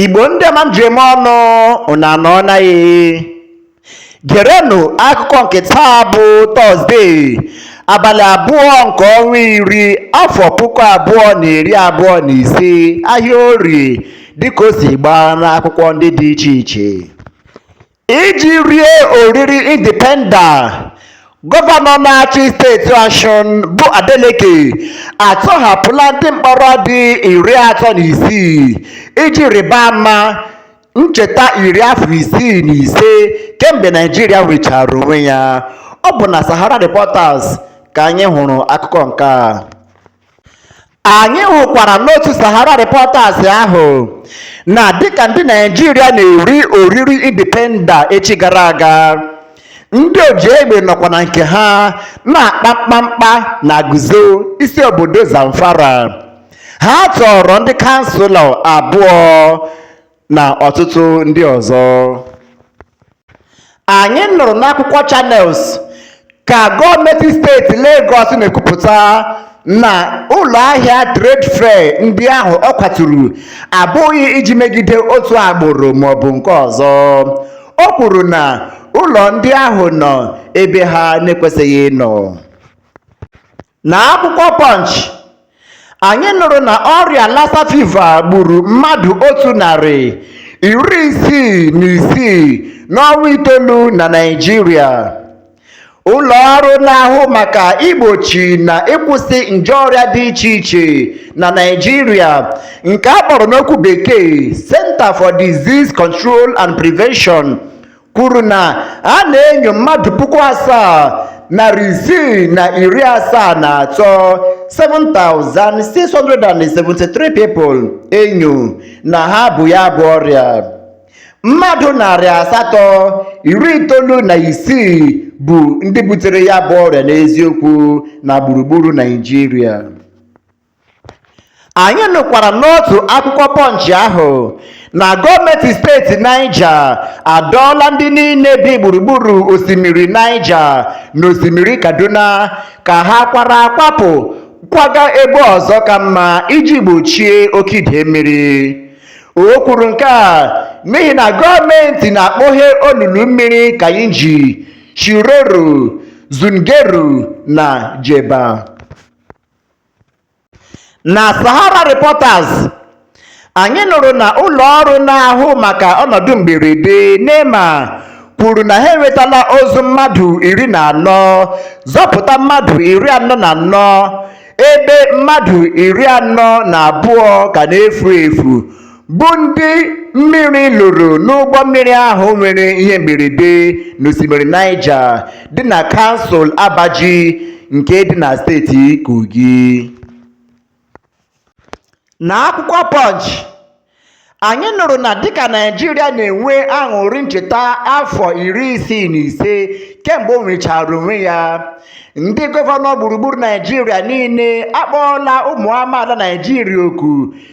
Igbo ndị ọma m ji eme ọnụ unu anọọ na ya gerenụ akụkọ nke taa bụ tọzdee abalị abụọ nke ọnwa iri afọ puku abụọ na iri abụọ na ise ahịa orie dịka o si gbaa n'akwụkwọ ndị dị iche iche Iji rie oriri Indipenda, Gọvanọ na-achị steeti Ọshụn bụ Adeleke atọhapụla ndị mkpọrọ dị iri atọ na isii iji rịba ama ncheta iri afọ isii na ise kemgbe Naịjirịa nwechara onwe ya. Ọ bụ na Sahara Reporters ka anyị hụrụ akụkọ nke a. Anyị hụkwara n'otu Sahara Reporters ahụ na dịka ndị Naịjirịa na-eri oriri indipenda echi gara aga, ndị ojiegbe nọkwa na nke ha na-akpa mkpamkpa na Gusau, isi obodo Zamfara. Ha tọọrọ ndị kanselọ abụọ na ọtụtụ ndị ọzọ anyị nụrụ n'akwụkwọ Channels ka gọọmenti steeti Lagos na-ekwupụta na ụlọ ahịa trade fair ndị ahụ ọ kwaturu abụghị iji megide otu agbụrụ maọbụ nke ọzọ o kwuru na ụlọ ndị ahụ nọ ebe ha na-ekwesịghị ịnọ Na akwụkwọ Punch, anyị nụrụ na ọrịa Lassa fever gburu mmadụ otu narị iri isii na isii n'ọnwa itoolu na Naịjirịa. Ụlọ ọrụ na-ahụ maka igbochi na ịkwụsị nje ọrịa dị iche iche na Naịjirịa nke a kpọrọ n'okwu bekee Center for Disease Control and Prevention kwuru na a na-enyo mmadụ puku asaa narị isii na iri asaa na atọ 7,673 people enyo na ha bu ya bụ ọrịa mmadụ narị asatọ iri itoolu na isii bụ ndị butere ya bụ ọrịa n'eziokwu na gburugburu Naịjirịa Anyị nụkwara n'otu akwụkwọ Punch ahụ na gọọmenti steeti Naịja adọọla ndị niile bi gburugburu osimiri Naịja na osimiri Kaduna ka ha kwara akwapụ kwaga ebe ọzọ ka mma iji gbochie oke idei mmiri. O kwuru nke a n'ihi na gọọmenti na-akpọghe olulu mmiri Kainji, Shiroro, Zungeru na Jebba. Na Sahara Reporters, anyị nụrụ na ụlọ ọrụ na-ahụ maka ọnọdụ mberede NEMA kwuru na ha enwetala ozu mmadụ iri na anọ, zọpụta mmadụ iri anọ na anọ ebe mmadụ iri anọ na abụọ ka na-efu efu. bụ ndị mmiri lụrụ n'ụgbọ mmiri ahụ nwere ihe mberede n'osimiri Niger dị na kansụl Abaji nke dị na steeti Kogi. Na akwụkwọ Punch, anyị nụrụ na dịka Naịjirịa na-enwe aṅụrị ncheta afọ iri isii na ise kemgbe o nwechara onwe ya, ndị gọvanọ gburugburu Naịjirịa niile akpọọla ụmụ amaala Naịjirịa oku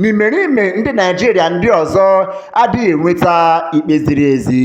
n'imerime ndị Naịjirịa ndị ọzọ adịghị enweta ikpe ziri ezi.